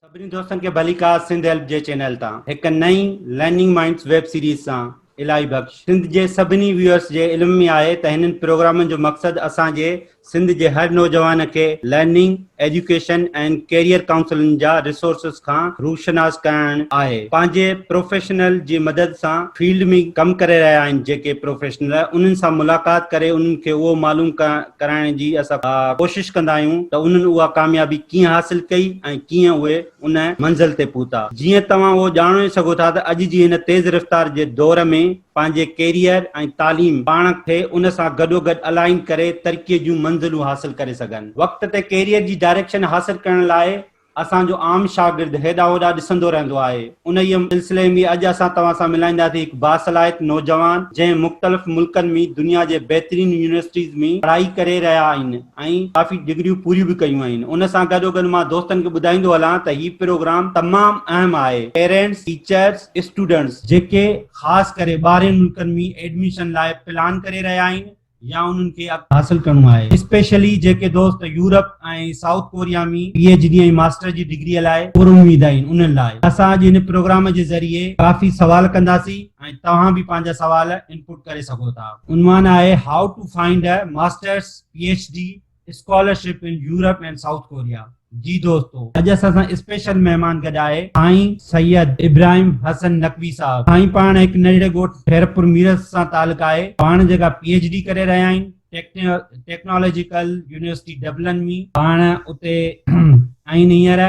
سڀني دوستن کي ڀليڪا سنڌ هيلپ جي چينل تان هڪ نئين لرننگ مائنڊز ويب سيريز سان الاهي بخش سنڌ جي سڀني ويورس جي علم ۾ آهي ته هنن پروگرامن جو مقصد اسان جي سنڌ جي هر نوجوان کي لرننگ، ايجوڪيشن ۽ ڪيريئر ڪائونسلن جا ريسورسز کان روشناس ڪرائڻ آهي. پنهنجي پروفيشنل جي مدد سان فيلڊ ۾ ڪم ڪري رهيا آهن جيڪي پروفيشنل انهن سان ملاقات ڪري انهن کي اهو معلوم ڪرائڻ جي اسان ڪوشش ڪندا آهيون ته انهن اها ڪاميابي ڪيئن حاصل ڪئي ۽ ڪيئن اهي ان منزل تي پهتا. جيئن توهان اهو ڄاڻو ئي سگهو ٿا ته اڄ جي هن تيز رفتار جي دور ۾ پنهنجي ڪيريئر ۽ تعليم پاڻ کي ان سان گڏوگڏ الائن ڪري ترقيء جون منزلون حاصل ڪري سگهن. وقت تي ڪيريئر جي ڊائريڪشن حاصل ڪرڻ لاء اسان جو عام شاگرد هيڏا هوڏا ڏسندو رهندو آهي. انهيء سلسلي ۾ اڄ اسان توهان سان ملائينداسين هڪ باصلاحيت نوجوان جنهن مختلف ملڪن ۾ دنيا جي بهترين يونيورسٽيز ۾ پڙهائي ڪري رهيا آهن ۽ ڪافي ڊگريون پوريون به ڪيون آهن. ان سان گڏوگڏ مان دوستن کي ٻڌائيندو هلان ته هي پروگرام تمام اهم آهي پيرينٽس، ٽيچرس، اسٽوڊنٽس جيڪي خاص ڪري ٻاهرين ملڪن ۾ ايڊميشن لاء پلان ڪري رهيا آهن، يا انهن کي اڳتي حاصل ڪرڻو آهي اسپيشلي جيڪي دوست Europe ۽ South Korea ۾ P H D ۽ master جي ڊگريء لاء پر اميد آهن انهن لاء اسان اڄ هن پروگرام جي ذريعي ڪافي سوال ڪنداسين ۽ توهان به پنهنجا سوال انپوٽ ڪري سگهو ٿا. عنوان آهي How to find a Masters، PhD، scholarship in Europe and South Korea جي دوستو اڄ اسان سان اسپيشل مهمان گڏ آهي سائين سيد ابراهيم حسن نقوي صاحب سائين پاڻ هڪ ننڍڙي ڳوٺ خيرپور ميرس سان تعلق آهي پاڻ جيڪا پي ايڇ ڊي ڪري رهيا آهن ٽيڪنالاجيڪل يونيورسٽي ڊبلن مي پاڻ اتي آهن هينئر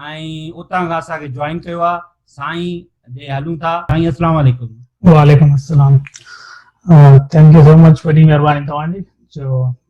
۽ اتان کان اسان کي جوائن ڪيو آهي سائين ڏي هلون ٿا سائين السلام عليڪم وعليڪم السلام ٿينڪ يو سو مچ وڏي مهرباني توهان جي جو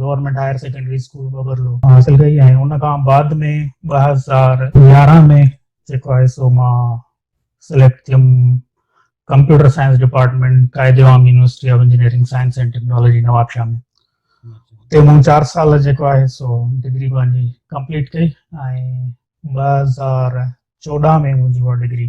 government higher secondary school Babarlo حاصل ڪئي ۽ ان کان بعد ۾ ٻه هزار يارهن ۾ جيڪو آهي سو مان سليڪٽ ٿيم computer science department Quaid Awam university of engineering science and technology Nawabshah ۾ اتي مون چار سال جيڪو آهي سو ڊگري پنهنجي ڪمپليٽ ڪئي ۽ ٻه هزار چوڏهن ۾ منهنجي اها ڊگري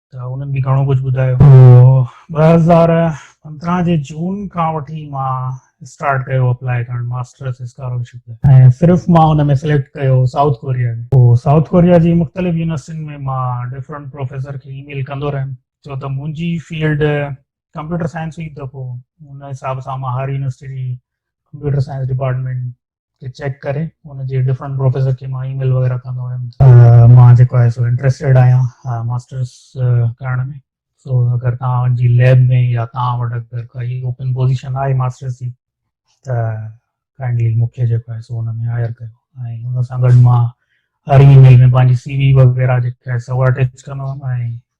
ته انهن به گهڻو ڪجهه ٻڌايو. ٻه هزار پندرهن جي جون کان وٺي مان اسٽارٽ ڪيو اپلائي ڪرڻ ماسٽرس اسڪالرشپ لاء ۽ صرف مان ان ۾ سليڪٽ ڪيو سائوٿ ڪوريا ۾ پوء سائوٿ ڪوريا جي مختلف يونيورسٽين ۾ مان ڊفرنٽ پروفيسر کي اي ميل ڪندو رهيم ڇو ته منهنجي فيلڊ ڪمپيوٽر سائنس هئي ته پوء ان حساب سان مان هر يونيورسٽي جي ڪمپيوٽر سائنس ڊپارٽمينٽ کي چيڪ ڪري ان جي ڊفرنٽ پروفيسر کي مان اي ميل وغيره ڪندو هيم مان جيڪو آهي سو انٽرسٽيڊ آهيان ماسترس ڪرڻ ۾ سو اگر تان جي ليب ۾ يا تان وٽ اگر ڪائي اوپن پوزيشن آهي ماسترس جي ته ڪائنڊلي مون کي جيڪو آهي سو ان ۾ هائر ڪيو ۽ ان سان گڏ مان هر اي ميل ۾ پنهنجي سي وي وغيره جيڪا آهي سو اٽيچ ڪندو هيم ۽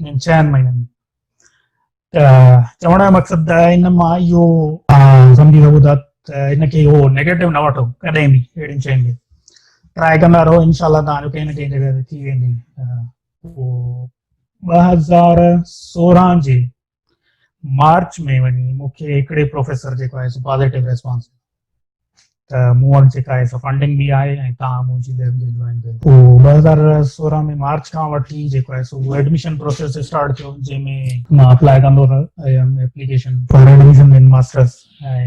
انهن چئن مهينن ۾ ته چوڻ جو مقصد ان مان اهو سمجهي سگهو ٿا ته ان کي اهو نيگيٽو نه وٺو ڪڏهن به اهڙين شين کي ٽرائي ڪندا رهو انشاء الله تان جو ڪنهن نه ڪنهن جڳهه تي ٿي ويندي ٻه هزار سورهن جي مارچ ۾ وڃي مون کي هڪڙي پروفيسر جيڪو آهي سو پازيٽو ريسپانس ته مون وٽ جيڪا آهي سو فنڊنگ به آهي ۽ تان منهنجي ليب کي جوائن ڪيو پوء ٻه هزار سورهن ۾ مارچ کان وٺي جيڪو آهي سو ايڊميشن پروسيس اسٽارٽ ٿيو جنهن ۾ مان اپلائي ڪندو رهيم application for admission in masters ۽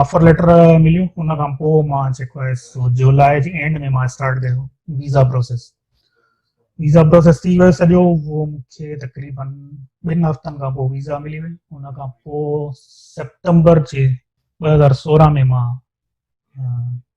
offer letter مليون ان کان پوء مان جيڪو آهي سو جولاء جي اينڊ ۾ مان اسٽارٽ ڪيو ويزا پروسيس ويزا پروسيس ٿي ويو سڄو هو مونکي تقريبن ٻن هفتن کان پوء ويزا ملي وئي ان کان پوء سيپٽمبر جي ٻه هزار سورهن ۾ مان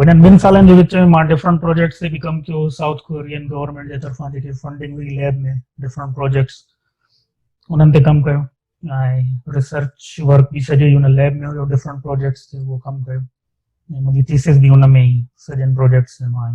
انهن ٻن سالن جي وچ ۾ مان ڊفرنٽ پروجيڪٽس تي به ڪم ڪيو هو سائوٿ ڪورين گورنمينٽ جي طرفان جيڪي فنڊنگ هئي ليب ۾ ڊفرنٽ پروجيڪٽس انهن تي ڪم ڪيو ۽ ريسرچ ورڪ به سڄو هن ليب ۾ هيو ڊفرنٽ پروجيڪٽس تي اهو ڪم ڪيو ۽ منهنجي ٿيسز به ان ۾ ئي سڄن پروجيڪٽس مان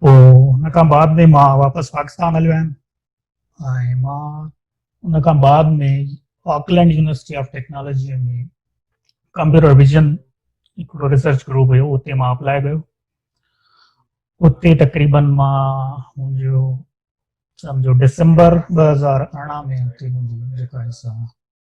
پوء ان کان بعد ۾ مان واپس پاڪستان هليو آيم ۽ مان ان کان بعد ۾ Auckland university of technology ۾ computer vision هڪڙو ريسرچ گروپ هيو اتي مان اپلائي ڪيو اتي تقريبن مان منهنجو سمجھو ڊسمبر ٻه هزار ارڙهن ۾ اتي منهنجي جيڪا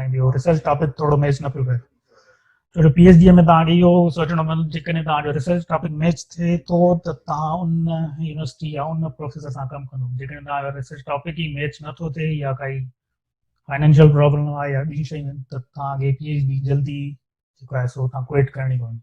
۽ ٻيو ريسرچ ٽاپڪ ٿورو ميچ نه پيو ڪري ڇو جو پي ايڇ ڊي ۾ توهان کي اهو سوچڻو پوندو جيڪڏهن توهان جو ريسرچ ٽاپڪ ميچ ٿئي ٿو ته توهان ان يونيورسٽي يا ان پروفيسر سان ڪم ڪندو جيڪڏهن توهان جو ريسرچ ٽاپڪ ئي ميچ نٿو ٿئي يا ڪائي فائنينشل پرابلم آهي يا ٻيون شيون آهن ته توهان کي پي ايڇ ڊي جلدي جيڪو آهي سو توهان ڪوئٽ ڪرڻي پوندي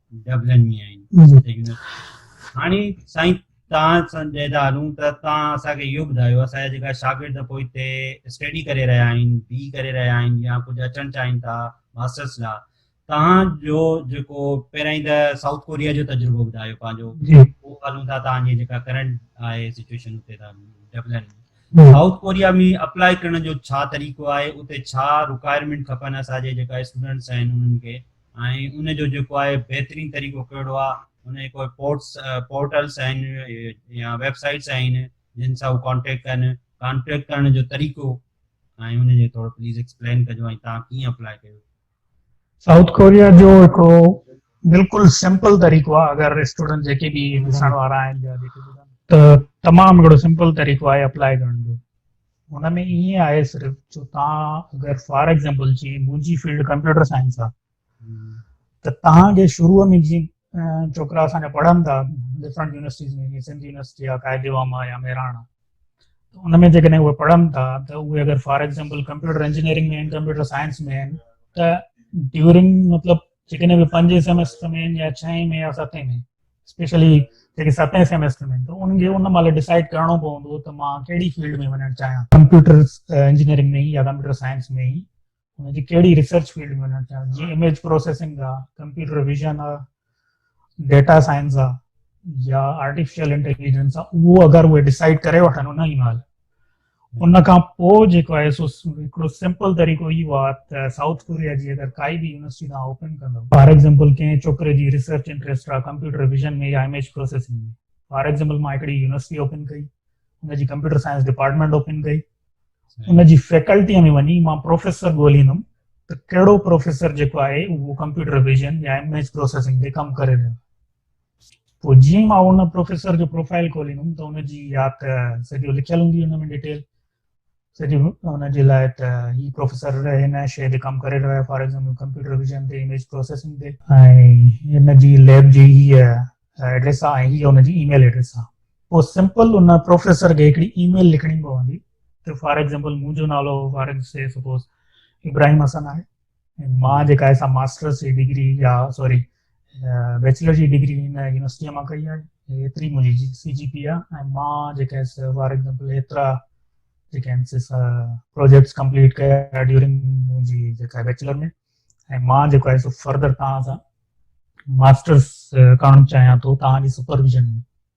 ڊبلن ۾ آهن هاڻي سائين تان سنجيدا هلون ته تان اسا کي يو بدايو اسا جا جيڪا شاگرد پو اتي اسٽيڊي ڪري رهيا آهن بي ڪري رهيا آهن يا ڪجھ اچڻ چاهين ٿا ماسترس لا تان جو جيڪو پهرين ته سائوٿ ڪوريا جو تجربو بدايو پنهنجو جي پو هلون ٿا تان جي جيڪا ڪرنٽ آهي سچويشن اتي ٿا ڊبلن سائوٿ ڪوريا ۾ اپلائي ڪرڻ جو ڇا طريقو آهي اتي ڇا رڪوائرمنٽ کپن اسا جي جيڪا اسٽوڊنٽس آهن انهن کي ۽ ان جو جيڪو آهي بهترين طريقو ڪهڙو آهي ان جي ڪوئي پورٽس پورٽلس آهن يا ويب سائيٽس آهن جن سان هو ڪانٽيڪٽ ڪن ڪانٽيڪٽ ڪرڻ جو طريقو ۽ ان جي ٿورو پليز ايڪسپلين ڪجو ۽ تان ڪيئن اپلاء ڪيو سائوٿ ڪوريا جو هڪڙو بلڪل سمپل طريقو آهي اگر اسٽوڊنٽ جيڪي به ڏسڻ وارا آهن ته تمام هڪڙو سمپل طريقو آهي اپلاء ڪرڻ جو ان ۾ ائين آهي صرف جو تان اگر فار ايگزامپل جي منجي فيلڊ ڪمپيوٽر سائنس آ ته تان جي شروع ۾ جي چوڪرا اسان جا پڙهن ٿا ڊفرنٽ يونيورسٽيز ۾ جي سنڌ يونيورسٽي آ قائد عوام آ يا مهراڻ آ ان ۾ جيڪڏهن اهي پڙهن ٿا ته اهي اگر for example computer engineering ۾ computer science ۾ آهن ته ڊيورنگ مطلب جيڪڏهن به پنجين سيمسٽر ۾ يا ڇهين ۾ يا ستين ۾ اسپيشلي جيڪي ستين سيميسٽر ۾ ايندو انهن کي ان مهل ڊسائڊ ڪرڻو پوندو ته مان ڪهڙي فيلڊ ۾ وڃڻ چاهيان ڪمپيوٽر انجنيئرنگ ۾ يا ڪمپيوٽر سائنس ۾ ئي ان جي ڪهڙي ريسرچ فيلڊ ۾ وڃڻ چاهيان جيئن اميج پروسيسنگ آ ڪمپيوٽر ويزن آ ڊيٽا سائنس آ يا آرٽيفيشل انٽيليجنس آ اهو اگر اهي ڊسائڊ ڪري وٺن ان ئي مهل ان کان پوء جيڪو آهي سو هڪڙو سمپل طريقو اهو آهي ته سائوٿ ڪوريا جي اگر ڪائي به يونيورسٽي توهان اوپن ڪندو فار ايگزامپل ڪنهن ڇوڪري جي ريسرچ انٽريسٽ آهي ڪمپيوٽر ويزن ۾ يا اميج پروسيسنگ ۾ فار ايگزامپل مان هڪڙي يونيورسٽي اوپن ڪئي ان جي ڪمپيوٽر سائنس ڊپارٽمينٽ اوپن ڪئي ان جي فيڪلٽي ۾ وڃي مان پروفيسر ڳوليندم ته ڪهڙو پروفيسر جيڪو آهي اهو ڪمپيوٽر ويزن يا اميج پروسيسنگ تي ڪم ڪري رهيو پوء جيئن ئي مان ان پروفيسر جو پروفائيل کوليندم ته ان جي يا ته سڄو لکيل هوندي ان ۾ ڊيٽيل سڄي ان جي لاء ته هي پروفيسر هن شيء تي ڪم ڪري رهيو آهي فار ايگزامپل ڪمپيوٽر ويزن تي اميج پروسيسنگ تي ۽ ان جي ليب جي هي ايڊريس آهي ۽ هي ان جي اي ميل ايڊريس آهي پوء سمپل ان پروفيسر کي هڪڙي اي ميل لکڻي پوندي ته فار ايگزامپل منهنجو نالو for example suppose Ibrahim Hassan آهي مان جيڪا آهي سا ماسٽرس جي ڊگري يا سوري بيچلر جي ڊگري هن يونيورسٽيء مان ڪئي آهي. ايتري منهنجي سي جي پي آء ۽ مان جيڪا هيس فار ايگزامپل ايترا جيڪا هيس پروجيڪٽس ڪمپليٽ ڪيا ڊيورنگ منهنجي جيڪا بيچلر ۾ ۽ مان جيڪو آهي سو فردر توهان سان ماسٽرس ڪرڻ چاهيان ٿو توهان جي سپرويزن ۾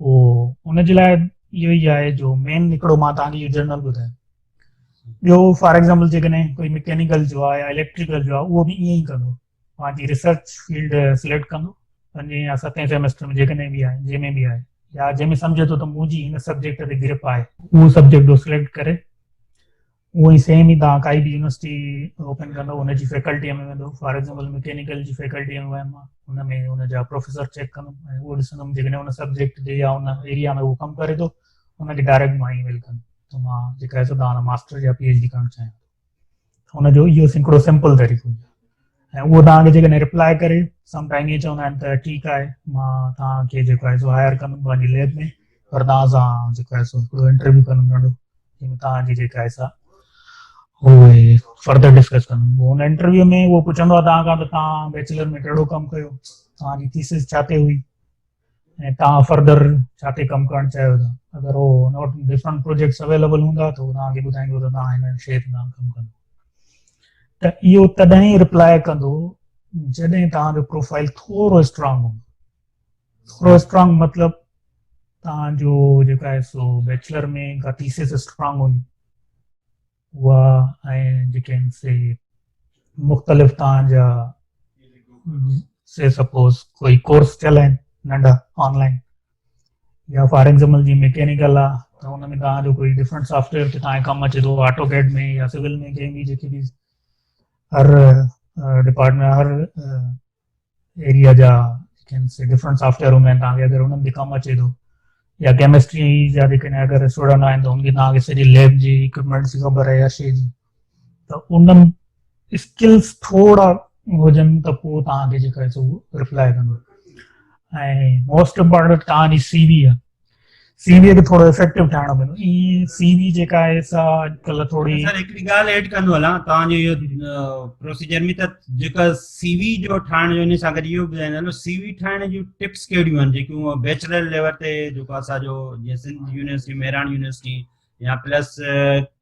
پوء ان جي لاء اهو ئي آهي جو مين هڪڙو مان توهان کي جنرل ٻڌايو ٻيو فار ايگزامپل جيڪڏهن ڪوئي مڪينيڪل جو آهي يا اليڪٽريڪل جو آهي اهو به ائين ئي ڪندو پنهنجي ريسرچ فيلڊ سليڪٽ ڪندو پنجين يا ستين سيمسٽر ۾ جيڪڏهن به آهي جنهن ۾ به آهي يا جنهن ۾ سمجهي ٿو ته منهنجي هن سبجيڪٽ تي گرپ آهي اهو سبجيڪٽ جو سليڪٽ ڪري اهو ئي سيم ئي توهان ڪائي به يونيورسٽي اوپن ڪندو ان جي فيڪلٽيء ۾ ويندو فار ايگزامپل مڪينيڪل جي فيڪلٽيء ۾ ويم مان ان ۾ ان جا پروفيسر چيڪ ڪندم ۽ اهو ڏسندم جيڪڏهن ان سبجيڪٽ تي يا ان ايريا ۾ اهو ڪم ڪري ٿو ان کي ڊائريڪٽ مان اي ميل ڪندم ته مان جيڪا سو تان ماستر يا پي ايڇ ڊي ڪرڻ چاهيان ٿو ان جو اهو هڪڙو سمپل طريقو ۽ اهو توهان کي جيڪڏهن ريپلائي ڪري سم ٽائيم ائين چوندا آهن ته ٺيڪ آهي مان توهان کي جيڪو آهي سو هائر ڪندم پنهنجي ليب ۾ پر توهان سان جيڪو آهي سو هڪڙو انٽرويو ڪندم ننڍو جنهن ۾ توهان جي جيڪا آهي سا اهي فردر ڊسڪس ڪندم هن انٽرويو ۾ اهو پڇندو آهي توهان کان ته توهان بيچلر ۾ ڪهڙو ڪم ڪيو توهان جي ٿيسز ڇا تي هئي ۽ توهان فردر ڇا تي ڪم ڪرڻ چاهيو ٿا اگر هو نوٽ ڊفرنٽ پروجيڪٽس اويليبل هوندا ته هو توهان کي ٻڌائيندو ته توهان هن شيء تي ڪم ڪندو ته اهو تڏهن رپلاء ڪندو جڏهن توهان جو پروفائل ٿورو اسٽرانگ هوندو ٿورو اسٽرانگ مطلب توهان جو جيڪا سو بيچلر ۾ ڪا ٿيسز اسٽرانگ هوندي اها ۽ جيڪين سي مختلف تان جا سي سپوز ڪوئي ڪورس ٿيل آهن ننڍا آنلائن يا فار ايگزامپل جي ميڪينيڪل آ ته ان ۾ تان جو ڪوئي ڊفرنٽ سافٽويئر تي تان ڪم اچي ٿو آٽو ڪيڊ ۾ يا سول ۾ ڪنهن به جيڪي به هر ڊپارٽمنٽ هر ايريا جا ڊفرنٽ سافٽويئر هوندا آهن تهانکي اگر انهن جي ڪم اچي ٿو يا ڪيمسٽري جا جيڪڏهن اگر اسٽوڊنٽ آهن ته انکي تهانکي سڄي ليب جي اڪوپمينٽس جي خبر آهي هر شيء جي ته انهن اسڪلس ٿورا هجن ته پوء تهانکي جيڪا سو ريپلائي ڪندو ۽ موسٽ امپارٽنٽ تهانجي سي وي آهي سي وي کي ٿورو افيڪٽو ٺاهڻو پوندو اي سي وي جيڪا آهي سا اڄڪلهه ٿوري سر هڪڙي ڳالهه ايڊ ڪندو هلان توهان جو اهو پروسيجر ۾ ته جيڪا سي وي جو ٺاهڻ جو ان سان گڏ اهو ٻڌائيندا هلو سي وي ٺاهڻ جون ٽپس ڪهڙيون آهن جيڪيون بيچلر ليول تي جيڪو اسان جو جيئن سنڌ يونيورسٽي مهراڻ يونيورسٽي يا پلس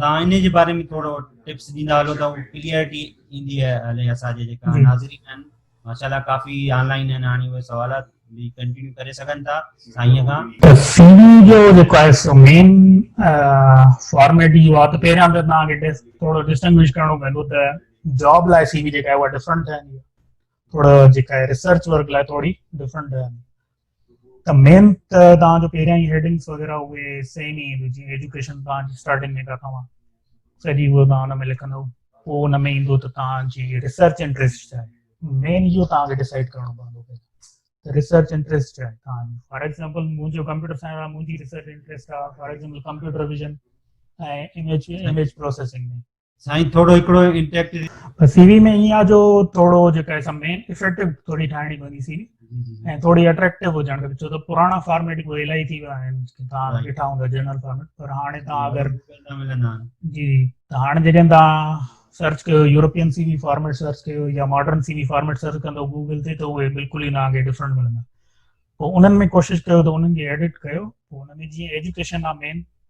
تان انهي جي باري ۾ ٿورو ٽپس ڏيندا هلو ته ڪليئرٽي ايندي هلي اسان جي جيڪا ناظرين آهن ماشاءالله ڪافي آن لائين آهن هاڻي اهي سوالات به ڪنٽينيو ڪري سگهن ٿا سائين کان ته سي وي جو جيڪو آهي سو مين فارميٽ اهو آهي ته پهريان ته تان کي ٿورو ڊسٽنگوش ڪرڻو پوندو ته جاب لاء سي وي جيڪا آهي اها ڊفرنٽ ٺهندي آهي ٿورو جيڪا آهي ريسرچ ورڪ لاء ٿوري ڊفرنٽ ٺهندي ته مين ته توهان جو پهريان ئي هيڊنگس وغيره اهي سيم ئي آهن جيئن ايجوڪيشن توهان جي اسٽارٽنگ ۾ ڪٿا هئا سڄي اهو توهان ان ۾ لکندو پوء ان ۾ ايندو ته توهان جي ريسرچ انٽرسٽ ڇا آهي مين اهو توهان کي ڊسائڊ ڪرڻو پوندو ته ريسرچ انٽرسٽ ڇا آهي توهان جي فار ايگزامپل منهنجو ڪمپيوٽر سائنس آهي منهنجي ريسرچ انٽرسٽ آهي for example computer vision ۽ image image processing ۾ سائين ٿورو هڪڙو انٽيڪٽ سي وي ۾ ايئن آ جو ٿورو جيڪا اسم مين افيڪٽو ٿوري ٺاهڻي پوندي سي وي ۽ ٿوري اٽريڪٽو هجڻ کپي ڇو ته پراڻا فارميٽ به الائي ٿي ويا آهن تان ڏٺا هوندا جنرل فارميٽ پر هاڻي تان اگر جي ته هاڻي جيڪڏهن تان سرچ ڪيو European C V format search ڪيو يا modern C V format search ڪندو گوگل تي ته اهي بلڪل ئي تان کي ڊفرنٽ ملندا پوء انهن ۾ ڪوشش ڪيو ته انهن کي ايڊٽ ڪيو پوء انهن ۾ جيئن ايجوڪيشن آ مين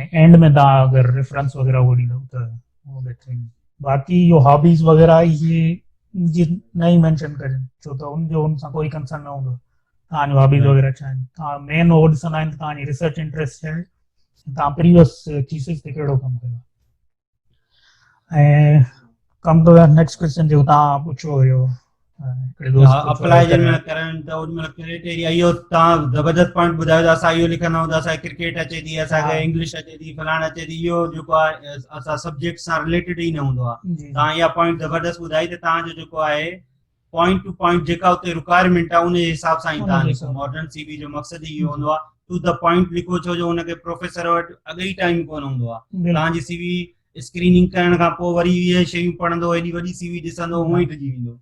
۽ اينڊ ۾ تان اگر ريفرنس وغيره هو ڏيندو ته هو بهترين باقي جو هابيز وغيره هي جي نه ئي مينشن ڪجن ڇو ته ان جو ان سان ڪوئي ڪنسرن نه هوندو تان جو هابيز وغيره ڇا آهن تان مين هو ڏسندا آهن تان جي ريسرچ انٽريسٽ ڇا آهي تان پريوس ٿيسز تي ڪهڙو ڪم ڪيو ڪم ٽو نيڪسٽ ڪويشچن جيڪو تان پڇيو هيو اپلائي جي مهل ڪرڻ ته ان مهل ڪريٽيريا اهو تان زبردست پوائنٽ ٻڌايو ته اسان اهو لکندا آهيون ته اسان کي ڪرڪيٽ اچي ٿي اسان کي انگلش اچي ٿي فلاڻ اچي ٿي اهو جيڪو آهي اسان سبجيڪٽ سان رليٽيڊ ئي نه هوندو آهي تان اها پوائنٽ زبردست ٻڌائي ته تان جو جيڪو آهي پوائنٽ ٽو پوائنٽ جيڪا اتي رڪوائرمينٽ آ ان جي حساب سان ئي تان لکو ماڊرن سي وي جو مقصد ئي اهو هوندو آ ٽو ته پوائنٽ لکو ڇو جو ان کي پروفيسر وٽ اڳ ئي ٽائيم ڪون هوندو آ تان جي سي وي اسڪريننگ ڪرڻ کان پوء وري اهي شيون پڙهندو ايڏي وڏي سي وي ڏسندو هونء ئي ڊڄي ويندو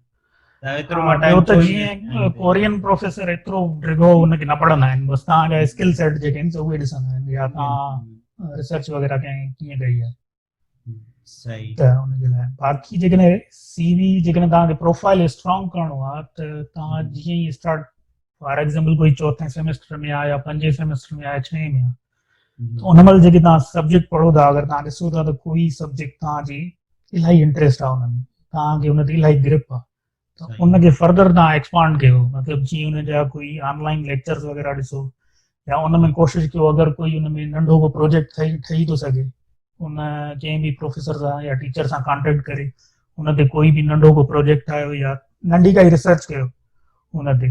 ته ايترو مان ٽائيم ته جيئن ڪورين پروفيسر ايترو ڊگهو ان کي نه پڙهندا آهن بس تان جا اسڪل سيٽ جيڪي آهن سو اهي ڏسندا آهن يا تان ريسرچ وغيره ڪئين ڪيئن ڪئي آ صحيح ته ان جي لاء باقي جيڪڏهن سي وي جيڪڏهن توهان کي پروفائل اسٽرانگ ڪرڻو آهي ته توهان جيئن ئي اسٽارٽ فار ايگزامپل ڪوئي چوٿين سيمسٽر ۾ آهي يا پنجين سيمسٽر ۾ آهي ڇهين ۾ آهي ان مهل جيڪي توهان سبجيڪٽ پڙهو ٿا اگر توهان ڏسو ٿا ته ڪوئي سبجيڪٽ توهان جي الاهي انٽريسٽ آهي ان ۾ توهان کي ان تي الاهي گرپ آهي ته ان کي فردر تان ايڪسپانڊ ڪيو مطلب جي ان جا ڪوئي آن لائن ليڪچرز وغيره ڏسو يا ان ۾ ڪوشش ڪيو اگر ڪوئي ان ۾ ننڍو ڪو پروجيڪٽ ٺهي ٺهي ٿو سگهي ان ڪنهن به پروفيسر سان يا ٽيچر سان ڪانٽيڪٽ ڪري ان تي ڪوئي به ننڍو ڪو پروجيڪٽ ٺاهيو يا ننڍي ڪائي ريسرچ ڪيو ان تي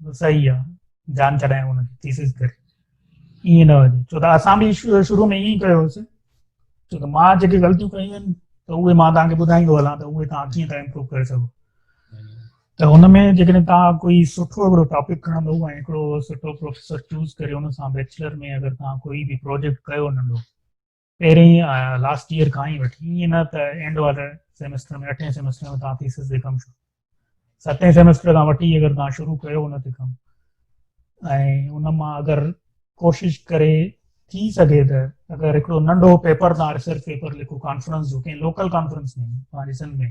صحيح آ جان ڇڏايائون ان کي تيسيس ڪري ائين نه هجي ڇو ته اسان به شروع ۾ ائين ڪيو هوسي ڇو ته مان جيڪي غلطيون ڪيون آهن ته اهي مان تان کي ٻڌائيندو هلان ته اهي تان ڪيئن ٿا امپروو ڪري سگهو ته ان ۾ جيڪڏهن تان ڪوئي سٺو هڪڙو ٽاپڪ کڻندو ۽ هڪڙو سٺو پروفيسر چوز ڪري ان سان بيچلر ۾ اگر تان ڪوئي به پروجيڪٽ ڪيو ننڍو پهرين لاسٽ ايئر کان ئي وٺي ائين نه ته اينڊ واري سيمسٽر ۾ اٺين سيمسٽر ۾ تان ٿيسز جي ڪم شروع ستين سيمسٽر کان وٺي اگر تان شروع ڪيو ان تي ڪم ۽ ان مان اگر ڪوشش ڪري ٿي سگهي ته اگر هڪڙو ننڍو پيپر تان ريسرچ پيپر لکو ڪانفرنس جو ڪنهن لوڪل ڪانفرنس ۾ پنهنجي سنڌ ۾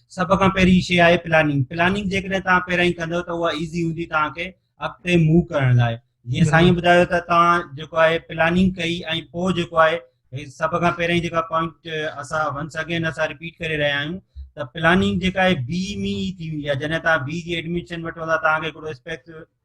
سڀ کان پهرين شيء آهي پلاننگ پلاننگ جيڪڏهن توهان پهريائين ڪندو ته اها ايزي هوندي توهان کي اڳتي موو ڪرڻ لاء جيئن سائين ٻڌايو ته توهان جيڪو آهي پلاننگ ڪئي ۽ پوء جيڪو آهي سڀ کان پهريائين جيڪا پوائنٽ اسان ونس اگين اسان رپيٽ ڪري رهيا آهيون ته پلاننگ جيڪا آهي بي مي ٿي ويندي آهي جڏهن توهان بي جي ايڊمشن وٺو ٿا توهان کي هڪڙو اسپيڪس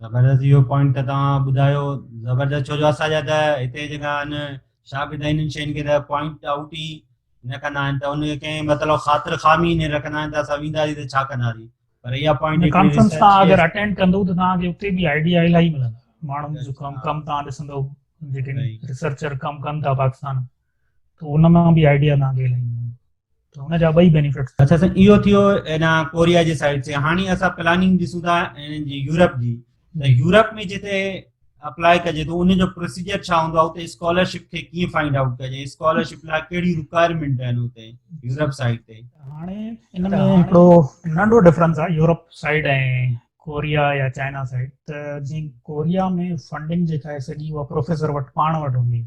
زبردست اهو پوائنٽ ته توهان ٻڌايو زبردست ڇو جو اسان جا ته هتي جيڪا آهن شاگرد آهن انهن شين کي ته پوائنٽ آؤٽ ئي نه ڪندا آهن ته ان کي ڪنهن مطلب خاطر خامي نه رکندا آهن ته اسان وينداسين ته ڇا ڪنداسين پر اها پوائنٽ ڪانفرنس تان اگر اٽينڊ ڪندو ته توهان کي اتي به آئيڊيا الائي ملندا ماڻهن جو ڪم ڪم تان ڏسندو جيڪي ريسرچر ڪم ڪن ٿا پاڪستان ته ان مان به آئيڊيا تان کي لائيندو آهي ته ان جا ٻئي بينيفٽس اچھا سائين اهو ٿيو انا ڪوريا جي سائيڊ تي هاڻي اسا پلاننگ ڏسون ٿا ان جي يورپ جي ته يورپ ۾ جتي اپلائي ڪجي ٿو ان جو پروسيجر ڇا هوندو آهي اتي اسڪالرشپ کي ڪيئن فائنڊ آئوٽ ڪجي اسڪالرشپ لاء ڪهڙي رڪوائرمنٽ آهن اتي يورپ سائيڊ تي هاڻي ان ۾ هڪڙو ننڍو ڊفرنس آهي يورپ سائيڊ ۽ ڪوريا يا چائنا سائيڊ ته جي ڪوريا ۾ فنڊنگ جيڪا آهي سڄي اها پروفيسر وٽ پاڻ وٽ هوندي آهي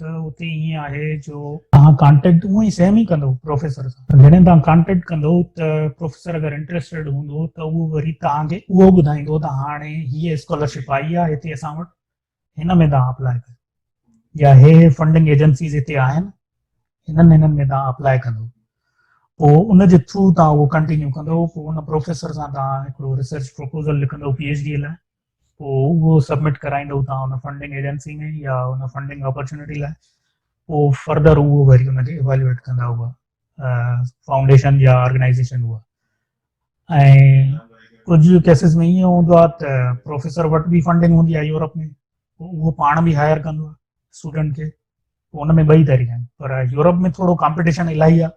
ته اتي ائين آهي جو توهان ڪانٽيڪٽ اونئن ئي سيم ئي ڪندو پروفيسر سان ته جڏهن توهان ڪانٽيڪٽ ڪندو ته پروفيسر اگر انٽريسٽيڊ هوندو ته اهو وري توهان کي اهو ٻڌائيندو ته هاڻي هيء اسڪالرشپ آئي آهي هتي اسان وٽ هن ۾ توهان اپلاء ڪيو يا هي هي فنڊنگ ايجنسيز هتي آهن هنن هنن ۾ توهان اپلاء ڪندو پوء ان جي ٿرو توهان اهو ڪنٽينيو ڪندو پوء ان پروفيسر سان توهان هڪڙو ريسرچ پروپوزل لکندو پي ايڇ ڊي لاء پوء اهو سبمٽ ڪرائيندو تان ان فنڊنگ ايجنسي ۾ يا ان فنڊنگ اپرچونيٽي لاء پوء فردر اهو وري ان کي ايوالويٽ ڪندا هئا فائونڊيشن يا آرگنائزيشن هئا ۽ ڪجهه ڪيسز ۾ ائين هوندو آهي ته پروفيسر وٽ بي فنڊنگ هوندي آهي يورپ ۾ اهو پاڻ به هائر ڪندو آهي اسٽوڊنٽ کي ان ۾ ٻئي طريقا آهن پر يورپ ۾ ٿورو ڪامپيٽيشن الاهي آهي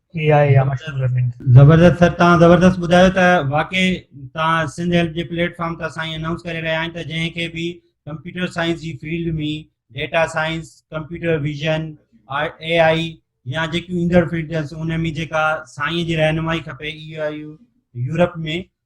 ڪي آهي يا مشهور لرننگ. زبردست سر تان زبردست ٻڌايو ته واقعي تان سنڌ هيلپ جي پليٽ فارم تان سائين انائونس ڪري رهيا آهن ته جنهن کي به ڪمپيوٽر سائنس جي field ۾ data science computer vision A I يا جيڪيون ايندڙ فيلڊس ان ۾ جيڪا سائين جي رهنمائي کپي اي آئي يورپ ۾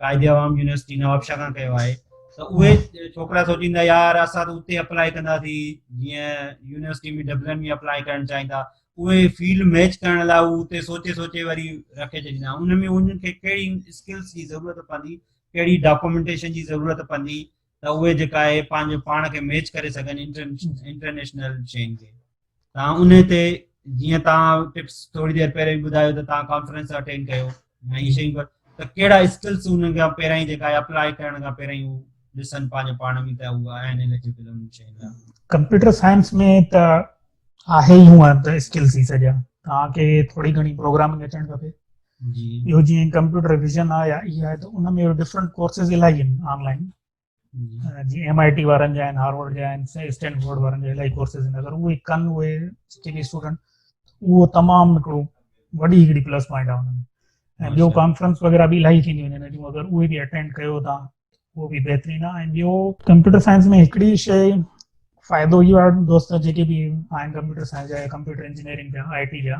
قائد عوام يونيورسٽي نوابشاهه کان ڪيو آهي ته اهي ڇوڪرا سوچين ٿا يار اسان ته اتي اپلائي ڪنداسين جيئن يونيورسٽي ۾ ڊبلن ۾ اپلائي ڪرڻ چاهين ٿا اهي فيلڊ ميچ ڪرڻ لاء هو اتي سوچي سوچي وري رکي ڇڏيندا ان ۾ انهن کي ڪهڙي اسڪلس جي ضرورت پوندي ڪهڙي ڊاڪومينٽيشن جي ضرورت پوندي ته اهي جيڪا اهي پنهنجو پاڻ کي ميچ ڪري سگهن انٽرنيشنل شين کي تان ان تي جيئن تان ٽپس ٿوري دير پهرين ٻڌايو ته تان ڪانفرنس اٽينڊ ڪيو ۽ هي شيون ته ڪهڙا اسڪلس ان کان پهرين جيڪا اپلائي ڪرڻ کان پهرين هو ڏسن پنهنجو پاڻ ۾ ته هو آهن ايليجبل ان شين لاء ڪمپيوٽر سائنس ۾ ته آهي ئي هونئن ته اسڪل ٿي سگهيا توهان کي ٿوري گهڻي پروگرامنگ اچڻ کپي جي اهو جيئن ڪمپيوٽر ويزن آهي يا اي آهي ته ان ۾ ڊفرنٽ ڪورسز الاهي آهن آن لائن جي ايم آئي ٽي وارن جا آهن هارورڊ جا آهن اسٽينڊ بورڊ وارن جا الاهي ڪورسز آهن اگر اهي ڪن اهي جيڪي به اسٽوڊنٽ اهو تمام هڪڙو وڏي هڪڙي پلس پوائنٽ آهي ان ۾ ۽ ٻيو ڪانفرنس وغيرها به الاهي ٿينديون آهن اگر اهي به اٽينڊ ڪيو تان اهو به بهترين آهي ۽ ٻيو ڪمپيوٽر سائنس ۾ هڪڙي شيء فائدو اهو آهي دوست جيڪي به آهن ڪمپيوٽر سائنس جا ڪمپيوٽر انجنيئرنگ جا آء ٽي جا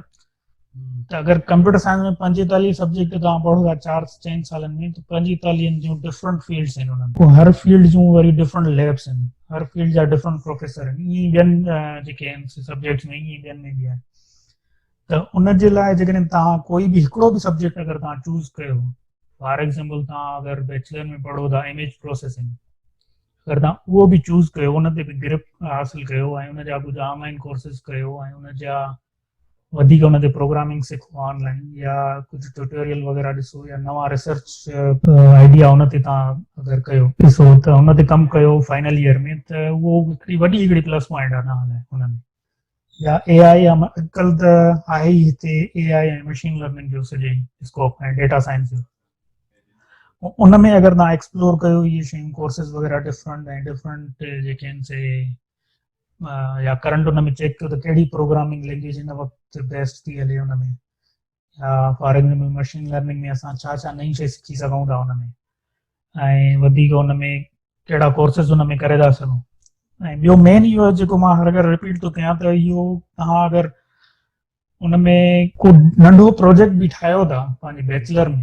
ته اگر ڪمپيوٽر سائنس ۾ پنجيتاليهه سبجيڪٽ توهان پڙهو ٿا چار چئن سالن ۾ ته پنجيتاليهن جون ڊفرنٽ فيلڊس آهن انهن جون هر فيلڊ جون وري ڊفرنٽ ليبس آهن هر فيلڊ جا ڊفرنٽ پروفيسر آهن ائين ٻين جيڪي آهن سبجيڪٽس ۾ ائين ٻين ۾ به آهن ته ان جي لاء جيڪڏهن توهان ڪوئي به هڪڙو به سبجيڪٽ اگر توهان چوز ڪيو فار ايگزامپل توهان اگر بيچلر ۾ پڙهو ٿا اميج پروسيسنگ اگر توهان اهو به چوز ڪيو ان تي به گرپ حاصل ڪيو ۽ ان جا ڪجهه آنلائن ڪورسز ڪيو ۽ ان جا وڌيڪ ان تي پروگرامنگ سکو آنلائن يا ڪجهه ٽيوٽوريل وغيره ڏسو يا نوان ريسرچ آئيڊيا ان تي توهان اگر ڪيو ڏسو ته ان تي ڪم ڪيو فائنل ايئر ۾ ته اهو هڪڙي وڏي هڪڙي پلس پوائنٽ آهي توهان لاء ان ۾ يا اي آء يا اڄڪلهه ته آهي ئي هتي اي آء ۽ مشين لرننگ جو سڄي اسڪوپ ۽ ڊيٽا سائنس جو ان ۾ اگر تان ايڪسپلور ڪيو اهي شيون ڪورسز وغيره ڊفرنٽ ۽ ڊفرنٽ جيڪي ان سي يا ڪرنٽ ان ۾ چيڪ ڪيو ته ڪهڙي پروگرامنگ لينگويج هن وقت بيسٽ ٿي هلي ان ۾ يا فار ايگزامپل مشين لرننگ ۾ اسان ڇا ڇا نئين شيء سکي سگهون ٿا ان ۾ ۽ وڌيڪ ان ۾ ڪهڙا ڪورسز ان ۾ ڪري ٿا سگهون ۽ ٻيو مين اهو آهي جيڪو مان هر ڀيرو رپيٽ ٿو ڪيان ته اهو توهان اگر ان ۾ ڪو ننڍو پروجيڪٽ به ٺاهيو ٿا پنهنجي بيچلر ۾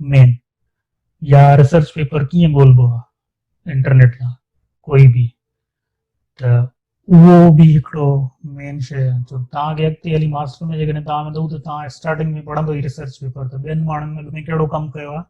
مين يا ريسرچ پيپر ڪيئن ڳولبو آ انٽرنيٽ تان ڪوئي به ته اهو به هڪڙو مين شي آ ته تان کي اڳتي هلي ماستر ۾ جيڪڏهن تان ويندو ته تان اسٽارٽنگ ۾ پڙهندو ئي ريسرچ پيپر ته ٻين ماڻهن اڳ ۾ ڪهڙو ڪم ڪيو آ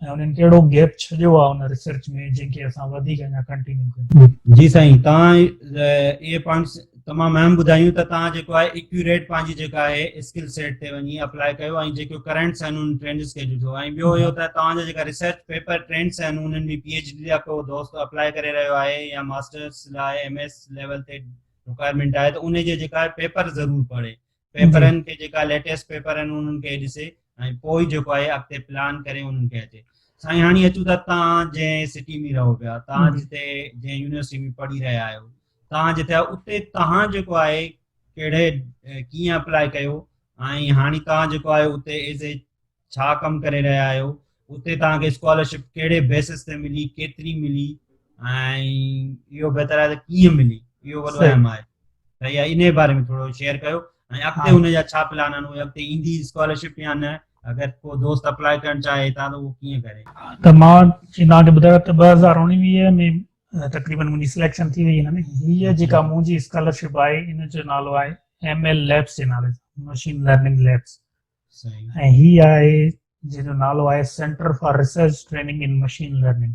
۽ انهن ڪهڙو گيپ ڇڏيو آ ان ريسرچ ۾ جنهن کي اسان وڌيڪ اڃا ڪنٽينيو ڪيون جي سائين تان اهي پوائنٽس تمام اهم ٻڌايون ته توهان جيڪو آهي ايڪيوريٽ پنهنجي جيڪا آهي اسڪل سيٽ تي وڃي اپلاء ڪيو ۽ جيڪو ڪرنٽس آهن انهن ٽرينڊس کي ڏٺو ۽ ٻيو اهو ته توهان جا جيڪا ريسرچ پيپر ٽرينڊس آهن انهن ۾ پي ايڇ ڊي لاء ڪو دوست اپلاء ڪري رهيو آهي يا ماسٽرس لاء ايم ايس ليول تي رڪوائرمينٽ آهي ته انهي جي جيڪا آهي پيپر ضرور پڙهي پيپرن کي جيڪا ليٽيسٽ پيپر آهن انهن کي ڏسي ۽ پوء جيڪو آهي اڳتي پلان ڪري انهن کي اچي سائين هاڻي اچون ٿا تان جنهن سٽي ۾ رهو پيا تان جتي جنهن يونيورسٽي ۾ پڙهي رهيا آهيو تان جتي اتي تان جيڪو آهي ڪهڙي ڪيئن اپلاء ڪيو ۽ هاڻي تان جيڪو آهي اتي ايز اي ڇا ڪم ڪري رهيا آهيو اتي توهان کي اسڪالرشپ ڪهڙي بيسس تي ملي ڪيتري ملي ۽ اهو بهتر آهي ته ڪيئن ملي اهو وڏو اهم آهي ته اها ان باري ۾ ٿورو شيئر ڪيو ۽ اڳتي ان جا ڇا پلان آهن اڳتي ايندي اسڪالرشپ يا نه اگر ڪو دوست اپلاء ڪرڻ چاهي ته اهو ڪيئن ڪري ته مان چيندا کي ٻڌايو ته 2019 ۾ تقريبا منهنجي سليڪشن ٿي وئي هن ۾ هي جيڪا منهنجي اسڪالرشپ آهي ان جو نالو آهي ايم ايل ليبس جي نالي سان مشين لرننگ ليبس ۽ هي آهي جنهن جو نالو آهي centre for research training in machine learning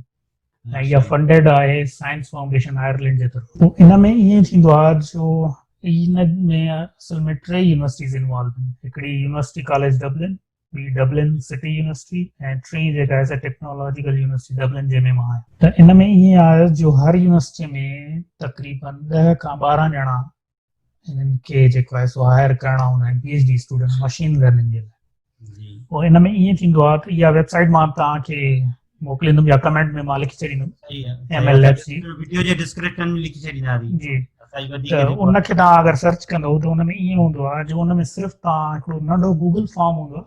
۽ اها فنڊيڊ آهي سائنس فائونڊيشن آئرلينڊ جي طرفان ان ۾ ائين ٿيندو آهي جو ان ۾ اصل ۾ ٽي يونيورسٽيز انوالو آهن هڪڙي يونيورسٽي ڪاليج ڊبلن ٻي ڊبلن سٽي يونيورسٽي ۽ ٽي جيڪا آهي سا ٽيڪنالاجيڪل يونيورسٽي ڊبلن جنهن ۾ مان آهيان ته ان ۾ ائين آهي جو هر يونيورسٽي ۾ تقريبن ڏهه کان ٻارهن ڄڻا انهن کي جيڪو آهي سو هائر ڪرڻا هوندا آهن P H D student machine learning جي لاء پوء ان ۾ ائين ٿيندو آهي ته اها ويب سائيٽ مان توهان کي موڪليندم يا ڪمينٽ ۾ مان لکي ڇڏيندم ايم ايل ليبس جي ويڊيو جي ڊسڪرپشن ۾ لکي ڇڏينداسين جي ته ان کي توهان اگر سرچ ڪندو ته ان ۾ ائين هوندو آهي جو ان ۾ صرف توهان هڪڙو ننڍو گوگل فارم هوندو آهي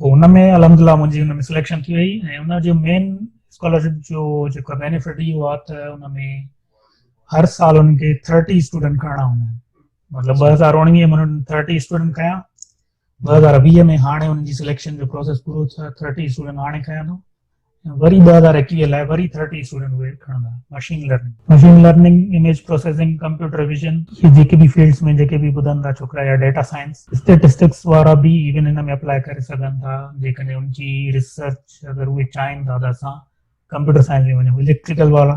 پوء ان ۾ الحمد لله منهنجي ان ۾ سليڪشن ٿي وئي ۽ ان جو مين اسڪالرشپ جو جيڪو بينيفٽ اهو آهي ته ان ۾ هر سال انهن کي ٿرٽي اسٽوڊنٽ کڻڻا هوندا آهن مطلب ٻ هزار اڻويهه ۾ انهن ٿرٽي اسٽوڊنٽ کنيا ٻ هزار ويهه ۾ هاڻي انهن جي سليڪشن جو پروسيس پورو ٿيو ٿرٽي اسٽوڊنٽ هاڻي کنيا اٿم ۽ وري ٻه هزار ايڪويهه لاء وري ٿرٽي اسٽوڊنٽ ويٽ کڻندا. Machine learning. Machine learning, image processing, computer vision, اهي جيڪي به فيلڊس ۾ جيڪي به ٻڌن ٿا ڇوڪرا يا ڊيٽا سائنس، اسٽيٽسٽڪس وارا به ايون هن ۾ اپلائي ڪري سگهن ٿا جيڪڏهن ان جي ريسرچ اگر اهي چاهين ٿا ته اسان ڪمپيوٽر سائنس ۾ وڃون اليڪٽريڪل وارا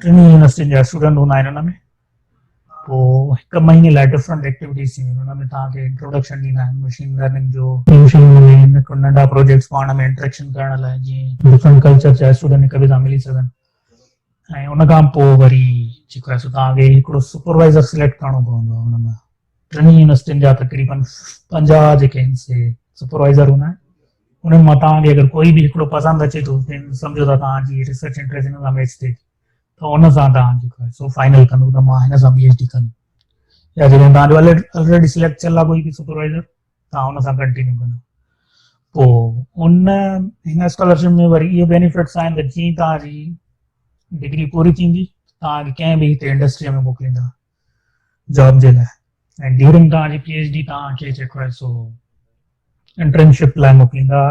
ٽنهي يونيورسٽين جا اسٽوڊنٽ هوندا آهن ان ۾ پوء هڪ مهيني لاء ڊفرنٽ ايڪٽيوٽيز ٿينديون ان ۾ توهان کي انٽروڊڪشن ڏيندا آهن مشين لرننگ جو ننڍا پروجيڪٽس پاڻ ۾ انٽريڪشن ڪرڻ لاء جيئن ڊفرنٽ ڪلچر جا اسٽوڊنٽ هڪ ٻئي سان ملي سگهن ۽ ان کان پوء وري جيڪو آهي سو توهان کي هڪڙو سپروائزر سليڪٽ ڪرڻو پوندو آهي ان ۾ ٽنهي يونيورسٽين جا تقريبن پنجاهه جيڪي آهن سي سپروائزر هوندا آهن انهن مان توهان کي اگر ڪوئي به هڪڙو پسند اچي ٿو ته سمجهو ته توهان جي ريسرچ انٽريسٽ هن سان ميچ ٿئي ٿي ته ان سان توهان جي سو فائنل ڪندو ته مان هن سان پي ايڇ ڊي ڪندم يا جڏهن توهان جو آلريڊي سليڪٽ ٿيل آهي ڪوئي به سپروائزر توهان ان سان ڪنٽينيو ڪندو پوء ان هن اسڪالرشپ ۾ وري اهي بينيفٽس آهن ته جيئن توهان جي ڊگري پوري ٿيندي توهان کي ڪنهن به هتي انڊسٽري ۾ موڪليندا جاب جي لاء ۽ ڊيورنگ توهان جي پي ايڇ ڊي توهان کي جيڪو آهي سو انٽرنشپ لاء موڪليندا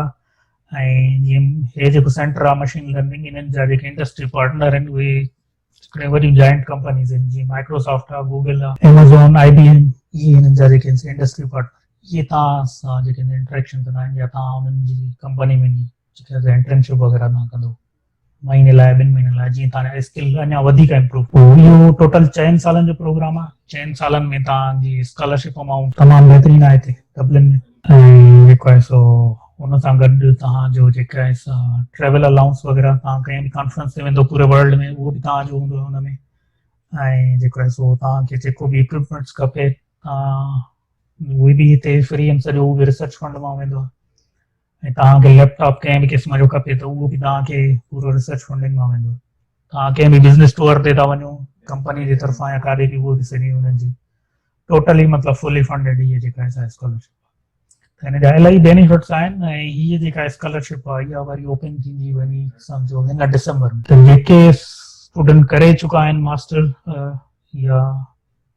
۽ جيئن هي جيڪو سينٽر آهي مشين لرننگ انهن جا جيڪي انڊسٽري پارٽنر آهن اهي هڪڙي وڏيون جائنٽ ڪمپنيز آهن جيئن مائڪروسافٽ آهي گوگل آهي ايمازون آئي بي ايم اهي هنن جا جيڪي انڊسٽري پارٽنر اهي توهان سان جيڪي انٽريڪشن ڪندا آهن يا توهان انهن جي ڪمپني ۾ جيڪي انٽرنشپ وغيره توهان ڪندو مهيني لاء ٻن مهينن لاء جيئن تهان جا اسڪل اڃا وڌيڪ امپروو ٿين اهو ٽوٽل چئن سالن جو پروگرام آهي چئن سالن ۾ تهان جي اسڪالرشپ امائونٽ تمام بهترين آهي هتي ڊبلن ۾ ۽ جيڪو آهي سو ان سان گڏ تهان جو جيڪا آهي سا ٽريول الاؤنس وغيرها تهان ڪنهن به ڪانفرنس تي ويندو پوري ورلڊ ۾ اهو به تهان جو هوندو ان ۾ ۽ جيڪو آهي سو تهان کي جيڪو به اڪوپمينٽس کپي تهان اهي به هتي فري ۽ سڄو اهو به ريسرچ فنڊ مان ويندو آهي ۽ توهان کي ليپ ٽاپ ڪنهن به قسم جو کپي ته اهو به توهان کي پورو ريسرچ فنڊنگ مان ويندو توهان ڪنهن به بزنس ٽوئر تي ٿا وڃو ڪمپني جي طرفان يا ڪاڏي به اهو به سڄي انهن جي ٽوٽلي مطلب فلي فنڊيڊ هي جيڪا اسا اسڪالرشپ ته هن جا الاهي بينيفٽس آهن ۽ هي جيڪا اسڪالرشپ آهي اها وري اوپن ٿيندي وڃي سمجھو هن ڊسمبر ۾ جيڪي اسٽوڊنٽ ڪري چڪا آهن ماستر يا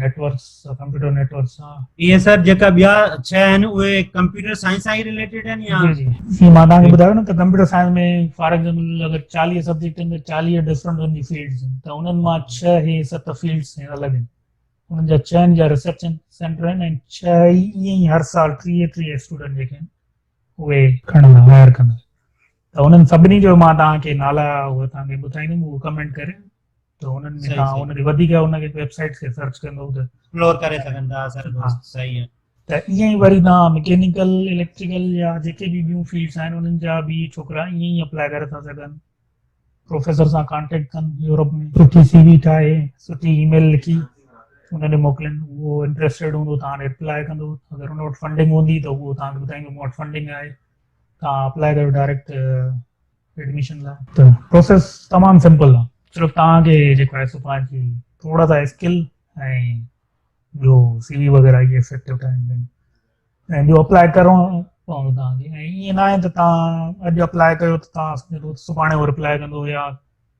نيٽورڪس ڪمپيوٽر نيٽورڪس سان اي ايس آر جيڪا ٻيا ڇهه آهن اهي ڪمپيوٽر سائنس سان ئي ريليٽيڊ آهن يا جي جي مان تان کي ٻڌايو نه ته ڪمپيوٽر سائنس ۾ فار ايگزامپل اگر 40 سبجيڪٽ آهن ته 40 ڊفرنٽ ان جي فيلڊز آهن ته انهن مان ڇهه هي ست فيلڊز هي الڳ آهن انهن جا ڇهن جا ريسرچ سينٽر آهن ۽ ڇهه ئي ائين ئي هر سال 30 30 اسٽوڊنٽ جيڪي آهن اهي کڻندا هائر ڪندا ته انهن سڀني جو مان تان کي نالا اهي تان کي ٻڌائيندم اهو ڪمينٽ ڪري ته انهن ۾ تان ان کي وڌيڪ ان کي ويب سائيٽس کي سرچ ڪندو ته ايڪسپلور ڪري سگهن ٿا سر دوست صحيح آهي ته ائين ئي وري تان مڪينيڪل اليڪٽريڪل يا جيڪي به ٻيون فيلڊس آهن انهن جا به ڇوڪرا ائين ئي اپلاء ڪري ٿا سگهن پروفيسر سان ڪانٽيڪٽ ڪن يورپ ۾ سٺي سي وي ٺاهي سٺي اي ميل لکي ان کي موڪلين اهو انٽرسٽيڊ هوندو تان اپلاء ڪندو اگر ان وٽ فنڊنگ هوندي ته اهو تان کي ٻڌائيندو مون وٽ فنڊنگ آهي تان اپلاء ڪريو ڊائريڪٽ ايڊميشن لاء ته پروسيس تمام سمپل آهي صرف توهان کي جيڪو آهي سو پنهنجي جي ٿورا سا اسڪل ۽ جو سي وي وغيره اهي افيڪٽو ٺاهڻ ۽ ٻيو اپلائي ڪرڻو پوندو توهان کي ۽ ائين ناهي ته توهان اڄ اپلائي ڪيو ته توهان سڀاڻي اهو رپلائي ڪندو يا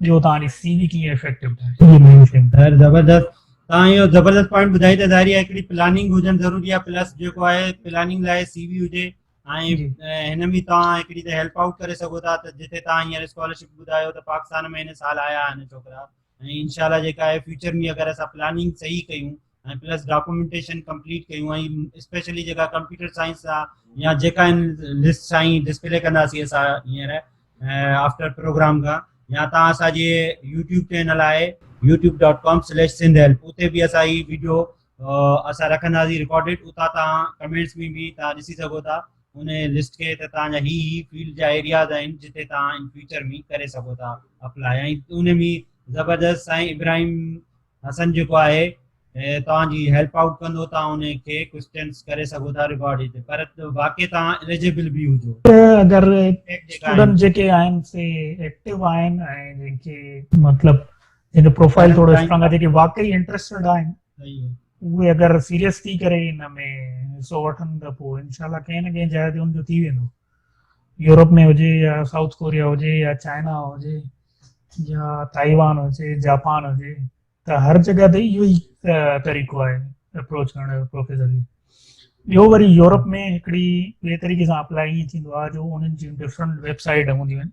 جو تان ڏي سي وي ڪيئن افيڪٽو ٺاهي جي مين سين ظاهر زبردست تان يو زبردست پوائنٽ ٻڌائي ته ظاهري هڪڙي پلاننگ هجن ضروري آهي پلس جيڪو آهي پلاننگ لاء سي وي هجي ۽ هن ۾ تان هڪڙي ته هيلپ آئوٽ ڪري سگهو ٿا ته جتي تان هيئر اسڪالرشپ ٻڌايو ته پاڪستان ۾ هن سال آيا آهن ڇوڪرا ۽ انشاءالله جيڪا آهي فيوچر ۾ اگر اسا پلاننگ صحيح ڪيون ۽ پلس ڊاڪومينٽيشن ڪمپليٽ ڪيون ۽ اسپيشلي جيڪا ڪمپيوٽر سائنس آ يا جيڪا ان لسٽ سائين ڊسپلي ڪنداسي اسا هينئر آفٽر پروگرام کا يا تان اسا جي يوٽيوب چينل آهي youtube.com/sindhelp اتي به اسا هي ويڊيو اسا رکنداسي ريڪارڊيڊ اتا تا ڪمنٽس ۾ به تا ڏسي سگهو ٿا ان لسٽ کي ته تان جا هي هي فيلڊ جا ايرياز آهن جتي تان ان فيوچر ۾ ڪري سگهو ٿا اپلاء ۽ ان ۾ زبردست سائين ابراهيم حسن جيڪو آهي توهان جي هيلپ آئوٽ ڪندو توهان ان کي ڪوسٽنس ڪري سگهو ٿا رڪارڊ هتي پر واقعي توهان اليجبل به هجو اگر اسٽوڊنٽ جيڪي آهن سي ايڪٽو آهن ۽ جن کي مطلب جن جو پروفائل ٿورو اسٽرانگ آهي جيڪي واقعي انٽرسٽيڊ آهن اهي اگر سيريس ٿي ڪري ان ۾ حصو وٺن ته پوء انشاء الله ڪنهن نه ڪنهن جاء تي ان جو ٿي ويندو يورپ ۾ هجي يا سائوٿ ڪوريا هجي يا چائنا هجي يا تائيوان هجي جاپان هجي ته هر جڳهه تي اهو ئي طريقو آهي اپروچ ڪرڻ جو پروفيسر کي ٻيو وري يورپ ۾ هڪڙي ٻئي طريقي سان اپلائي ٿيندو آهي جو انهن جون ڊفرنٽ ويب سائيٽ هونديون آهن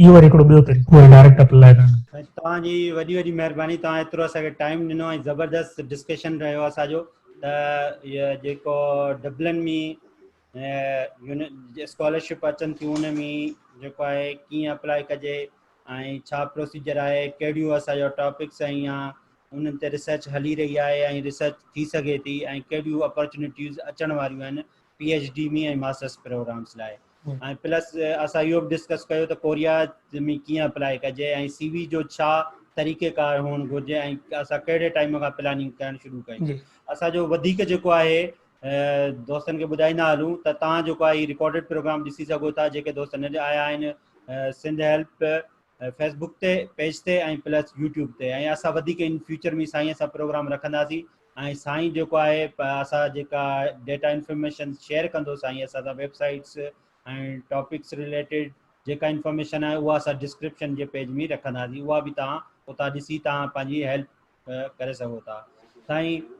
اهو وري هڪڙو ٻيو طريقو آهي ڊائريڪٽ اپل لاء ڪرڻ. سائين توهان جي وڏي وڏي مهرباني توهان ايترو اسان کي ٽائيم ڏنو ۽ زبردست ڊسڪشن رهيو اسان جو ته جيڪو ڊبلن ۾ اسڪالرشپ اچن ٿيون ان ۾ جيڪو آهي ڪيئن اپلائي ڪجي ۽ ڇا پروسيجر آهي ڪهڙيون اسان جو ٽاپڪس ۽ يا انهن تي ريسرچ هلي رهي آهي ۽ ريسرچ ٿي سگهي ٿي ۽ ڪهڙيون اپرچونيٽيز اچڻ واريون آهن P H D ۾ ۽ masters programs لاء ۽ پلس اسان اهو به ڊسڪس ڪيو ته ڪوريا ۾ ڪيئن اپلائي ڪجي ۽ سي وي جو ڇا طريقه ڪار هئڻ گهرجي ۽ اسان ڪهڙي ٽائيم کان پلاننگ ڪرڻ شروع ڪيون جي اسان جو وڌيڪ جيڪو آهي دوستن کي ٻڌائيندا هلون ته تان جيڪو آهي رڪارڊڊ پروگرام ڏسي سگهو ٿا جيڪي دوست نه آيا آهن سنڌ هيلپ فيس بوڪ تي پيج تي ۽ پلس يوٽيوب تي ۽ اسا وڌيڪ ان فيوچر ۾ سائين سا پروگرام رکنداسين ۽ سائين جيڪو آهي اسا جيڪا ڊيٽا انفارميشن شيئر ڪندو سائين اسا سا ويب سائيٽس ۽ ٽاپڪس ريليٽيڊ جيڪا انفارميشن آهي اها اسا ڊسڪرپشن جي پيج ۾ رکنداسين اها به تان اتا ڏسي تان پنهنجي هيلپ ڪري سگهو ٿا سائين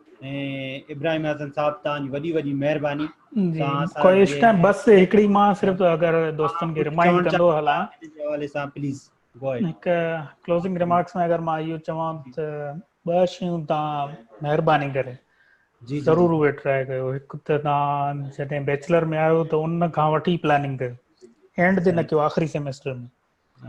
ابراهيم حسن صاحب تان جي وڏي وڏي مهرباني ڪوشش ڪان بس هڪڙي مان صرف اگر دوستن کي رمائنڊ ڪندو هلا حوالي سان پليز گو اهيڊ هڪ ڪلوزنگ ريمارڪس ۾ اگر مان اهو چوان ته ٻه شيون تان مهرباني ڪري جي ضرور اهي ٽرائي ڪيو هڪ ته تان جڏهن بيچلر ۾ آيو ته ان کان وٺي پلاننگ ڪيو اينڊ تي نه ڪيو آخري سيميسٽر ۾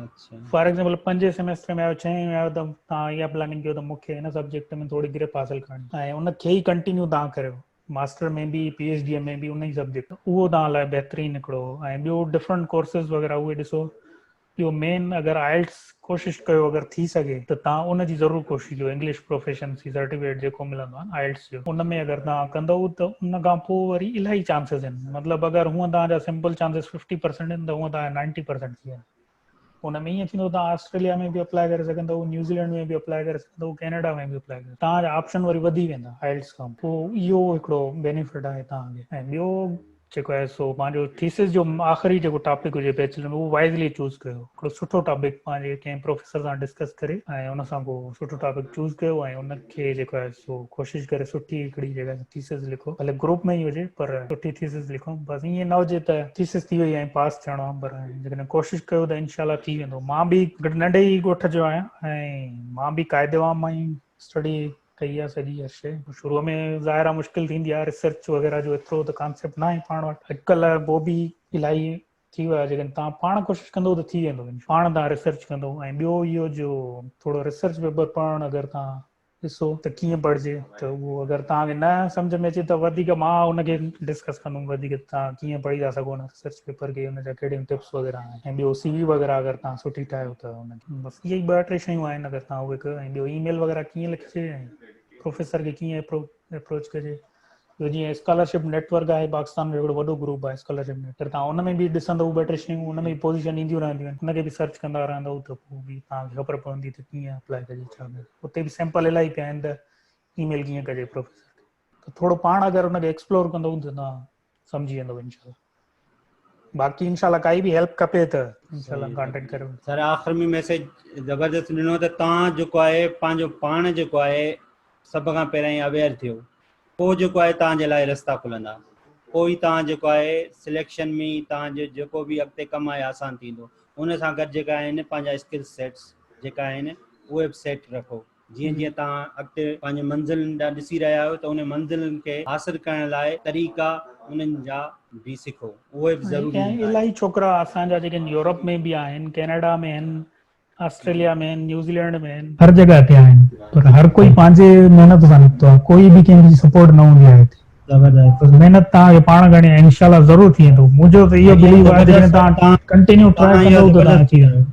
اچھا فار ايگزامپل پنجين سيميسٽر ۾ آيو ڇهين ۾ آيو ته تان اها پلاننگ ڪيو ته مون کي هن سبجيڪٽ ۾ ٿوري گرپ حاصل ڪرڻي ۽ ان کي ئي ڪنٽينيو تان ڪريو ماستر ۾ به پي ايڇ ڊي ۾ به ان ئي سبجيڪٽ اهو تان لاء بهترين نڪڙو ۽ ٻيو ڊفرنٽ ڪورسز وغيره اهي ڏسو ٻيو مين اگر آئلٽس ڪوشش ڪيو اگر ٿي سگهي ته تان ان جي ضرور ڪوشش ڪيو انگلش پروفيشنسي سرٽيفڪيٽ جيڪو ملندو آهي آئلٽس ان ۾ اگر توهان ڪندؤ ته ان کان پوء وري الاهي چانسز آهن مطلب اگر هونء توهان جا سمپل چانسز ففٽي پرسنٽ آهن ته هونء توهان جا نائنٽي پرسنٽ ٿي ويندا ان ۾ ائين ٿيندو توهان آسٽريليا ۾ به اپلائي ڪري سگهندؤ نيوزيلينڊ ۾ به اپلائي ڪري سگهندؤ ڪينيڊا ۾ به اپلائي ڪري توهان جا آپشن وري وڌي ويندا آئلٽس کان پوء اهو هڪڙو بينيفٽ آهي توهان کي ۽ ٻيو جيڪو آهي سو پنهنجو ٿيسز جو آخري جيڪو ٽاپڪ هجي بيچلر ۾ اهو وائزلي چوز ڪيو هڪڙو سٺو ٽاپڪ پنهنجي ڪنهن پروفيسر سان ڊسڪس ڪري ۽ ان سان ڪو سٺو ٽاپڪ چوز ڪيو ۽ ان کي جيڪو آهي سو ڪوشش ڪري سٺي هڪڙي جيڪا ٿيسز لکو ڀلي گروپ ۾ ئي هجي پر سٺي ٿيسز لکو بس ائين نه هجي ته ٿيسز ٿي وئي ۽ پاس ٿيڻو آهي پر جيڪڏهن ڪوشش ڪيو ته انشاء الله ٿي ويندو مان به ننڍي ئي ڳوٺ جو آهيان ۽ مان به قاعدي عام مان اسٽڊي ڪئي آ سڄي هر شيء شروع ۾ ظاهر آ مشڪل ٿيندي آ ريسرچ وغيره جو ايترو ته ڪانسيپٽ ناهي پاڻ وٽ اڄڪل بو به الائي ٿي ويو آ جيڪڏهن تان پاڻ ڪوشش ڪندو ته ٿي ويندو پاڻ تان ريسرچ ڪندو ۽ ٻيو اهو جو ٿورو ريسرچ پيپر پڙهڻ اگر تان ڏسو ته ڪيئن پڙهجي ته اهو اگر تان کي نه سمجھ ۾ اچي ته وڌيڪ مان ان کي ڊسڪس ڪندم وڌيڪ تان ڪيئن پڙهي ٿا سگهو ان ريسرچ پيپر کي ان جا ڪهڙي ٽپس وغيره ۽ ٻيو سي وي وغيره اگر تان سٺي ٺاهيو ته ان بس اهي ئي ٻه ٽي شيون آهن اگر تان اهي ڪيو ۽ ٻيو اي ميل وغيره ڪيئن لکجي ۽ پروفيسر کي ڪيئن اپرو اپروچ ڪجي ٻيو جيئن اسڪالرشپ نيٽورڪ آهي پاڪستان جو هڪڙو وڏو گروپ آهي اسڪالرشپ نيٽ اگر تان ان ۾ به ڏسندو ٻه ٽي شيون ان ۾ پوزيشن اينديون رهنديون آهن ان کي به سرچ ڪندا رهندو ته پوء به تان کي خبر پوندي ته ڪيئن اپلائي ڪجي ڇا اتي به سيمپل الاهي پيا آهن ته اي ميل ڪيئن ڪجي پروفيسر کي ته ٿورو پاڻ اگر ان کي ايڪسپلور ڪندو ته نا سمجهي ويندو انشاء الله باقي انشاء الله ڪائي به هيلپ کپي ته انشاء الله ڪانٽيڪٽ ڪريو سر آخر ۾ ميسج زبردست ڏنو ته تان جو ڪوئي پنهنجو پاڻ جو ڪوئي سڀ کان پهرين اويئر ٿيو پو جو ڪوئي تان جي لاء رستا کلندا پوئي تان جو ڪوئي سليڪشن ۾ تان جو جيڪو به اڳتي ڪم آهي آسان ٿيندو ان سان گڏ جيڪا آهن پنهنجا اسڪل سيٽس جيڪا آهن اهي به سيٽ رکو جيئن جيئن توهان اڳتي پنهنجي منزلن ڏانهن ڏسي رهيا آهيو ته انهن منزلن کي حاصل ڪرڻ لاء طريقا انهن جا به سکو اهي به ضروري هوندا آهن. الائي ڇوڪرا اسان جا جيڪي يورپ ۾ به آهن، ڪينيڊا ۾ هن، آسٽريليا ۾ هن، نيوزيلينڊ ۾ هن. هر جڳهه تي آهن پر هر ڪوئي پنهنجي محنت سان نڪتو آهي ڪوئي به ڪنهن جي سپورٽ نه هوندي آهي هتي زبردست محنت توهان کي پاڻ ڪرڻي آهي انشاء الله ضرور ٿي ويندو منهنجو ته اهو بليف آهي جيڪڏهن توهان ڪنٽينيو ٽرائي ڪندو ته توهان کي ٿي ويندو.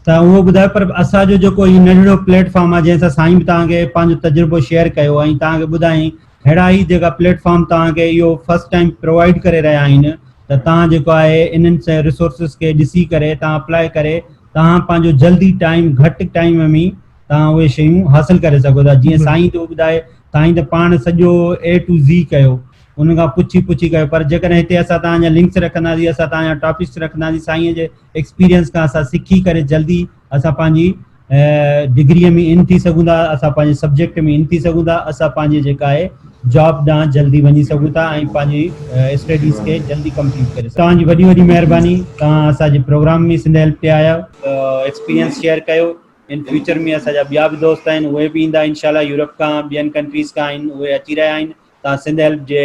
ته اهو ٻڌايو پر اسان جو جيڪو هي ننڍڙو پليٽ فارم آهي جنهن سان سائين به توهان کي پنهنجو تجربو شيئر ڪيو ۽ توهان کي ٻڌائين ههڙا هي جيڪا پليٽ فارم توهان کي اهو فرسٽ ٽائيم پرووائيڊ ڪري رهيا آهن ته توهان جيڪو آهي انهن ريسورسز کي ڏسي ڪري توهان اپلائي ڪري توهان پنهنجو جلدي ٽائيم گهٽ ٽائيم ۾ توهان اهي شيون حاصل ڪري سگهو ٿا جيئن سائين ٿو ٻڌائي سائين ته پاڻ سڄو اي ٽو زي ڪيو ان کان پڇي پڇي ڪيو پر جيڪڏهن هتي اسان تان جا لنڪس رکنداسين اسان تان جا ٽاپڪس رکنداسين سائين جي ايڪسپيرينس کان اسان سکي ڪري جلدي اسان پنهنجي ڊگريء ۾ ان ٿي سگهون ٿا، اسان پنهنجي سبجيڪٽ ۾ ان ٿي سگهون ٿا، اسان پنهنجي جيڪا آهي جاب ڏانهن جلدي وڃي سگهون ٿا ۽ پنهنجي اسٽڊيز کي جلدي ڪمپليٽ ڪري سگهون ٿا. توهان جي وڏي وڏي مهرباني توهان اسان جي پروگرام ۾ سنڌ هيلپ تي آيا. ايڪسپيرينس شيئر ڪيو ان فيوچر ۾ اسان جا ٻيا به دوست آهن اهي به ايندا انشاء الله يورپ کان ٻين ڪنٽريز کان آهن اهي اچي رهيا آهن توهان سنڌ هيلپ جي